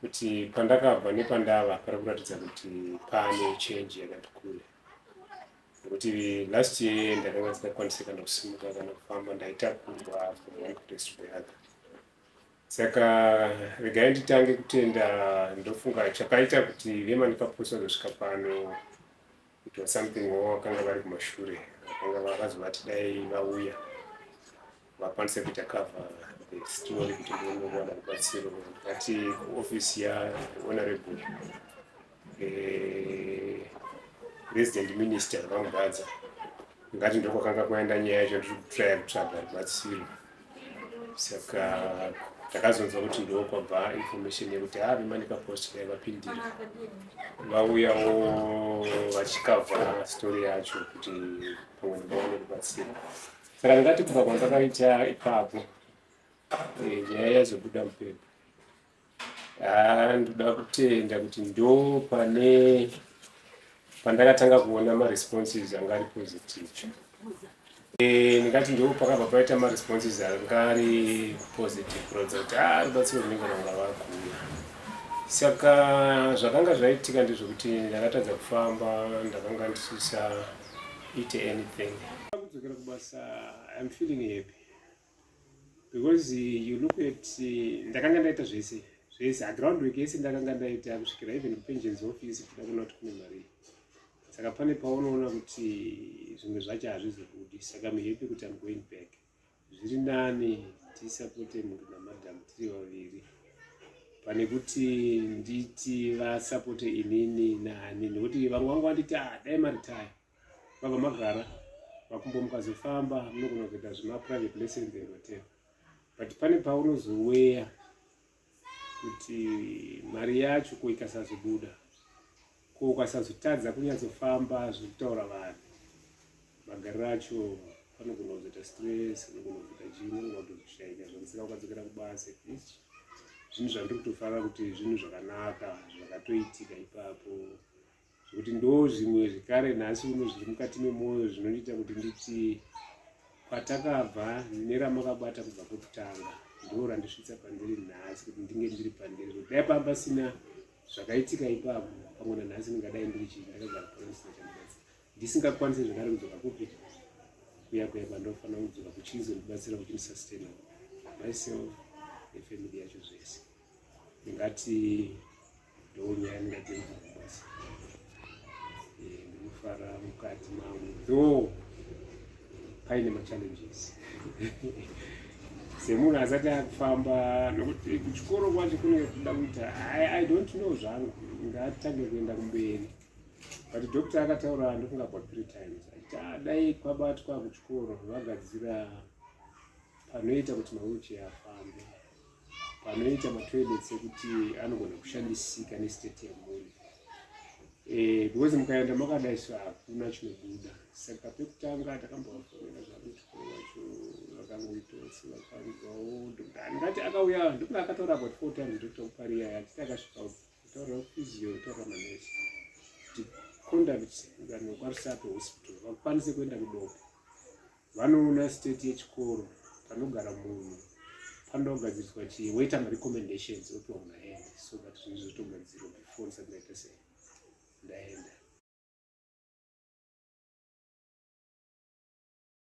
kuti pandakabva nepandava pari kuratidza kuti pane change yakati kure nekuti last year ndakanga ndisingakwanise kana kusimuka kana kufamba ndaitakurwa from one place to the other saka regai nditange kutenda ndofunga chakaita kuti vemanipaposi vazosvika pano it was something wo vakanga vari kumashure vakanga vakazovati dai vauya vakwanise kuita cover the story kuti ndinowana rubatsiro ndikati kuoffice yahonorable eh, resident minister vamugadza ngati ndokwakanga kwaenda nyaya yacho ndiri kutraya kutsvaga rubatsiro saka takazonzwa kuti ndoo kwabva information yekuti haa vemanika post dai vapindira vauyawo vachikavha story yacho kuti pamwe vaone kubatsira saka ndingati kubva kwandakaita ipapo eh, nyaya yazobuda mupepo Ah, ndoda kutenda kuti ndo pane pandakatanga kuona maresponses anga ari positive e, ndingati ndo pakabva paita maresponses anga ari positive kuratidza kuti ah, rubatsiro runenge ranga vakuuya saka zvakanga zvaitika ndezvekuti ndakatadza kufamba ndakanga ndisisa ite anything kudzokera kubasa im feeling happy because you look at ndakanga ndaita zvese zvese aground work yese ndakanga ndaita kusvikira even kupensions office kuda kuona kuti kune mari saka pane paunoona kuti zvimwe zvacho hazvizobudi saka muhepi kuti am going back zviri nani tisapote mhuri namadam tiri vaviri pane kuti nditi vasapote inini nani nekuti vamwe vangu vanditi ah, dai maritaya vabva magara makumbo mukazofamba munogona kuita zvemaprivate lessons ematea but pane paunozoweya kuti mari yacho ko ikasazobuda ko ukasazotadza kunyatsofamba zviri kutaura vanhu magariro acho panogona kuzoita stress unogona kuzoita chii unogona kutozvishaika zvamusika ukadzokera kubasa at least zvinhu zvandiri kutofarira kuti zvinhu zvakanaka zvakatoitika ipapo zvekuti ndo zvimwe zvekare nhasi uno zviri mukati memwoyo zvinondiita kuti nditi kwatakabva neramakabata kubva kwekutanga ndo randisvitsa pandiri nhasi kuti ndinge ndiri pandiri kuti dai pamba sina zvakaitika ipapo pamwe nanhasi ndingadai ndiri chii ndakagara panosina chandibatsira ndisingakwanisi zvekare kudzoka kupi kuya kuya kwandofanira kudzoka kuchizo ndibatsira kuti ndisastenaa myself nefamily yacho zvese ndingati ndonyaya ndingatenza kubasa eh, ndinofara mukati mangu though paine machallenges semunhu asati akufamba nokuti kuchikoro kwacho kunenge kuda kuita i don't know zvangu ngatange kuenda kumberi but doctor akataura ndokunga about three times aita ah, dai kwabatwa kuchikoro vagadzira panoita kuti mauchi afambe panoita matoilets ekuti anogona kushandisika nestate yemhuri eh, because mukaenda makadai so hakuna chinobuda saka pekutanga takambovafonera zvakuti vacho vakangoitose vakanzwawo ndingati akauya ndikuti akataura about four times doctor kupariya yatiti akasvika kutaura physio kutaura manesi kuti conduct vanhu vekwarusato hospital vakwanise kuenda kudoka Vanoona state yechikoro panogara munhu panoda kugadziriswa chii woita marecommendations opiwa munhu aende so that zvinhu zvotogadzirwa before ndisati ndaita sei ndaenda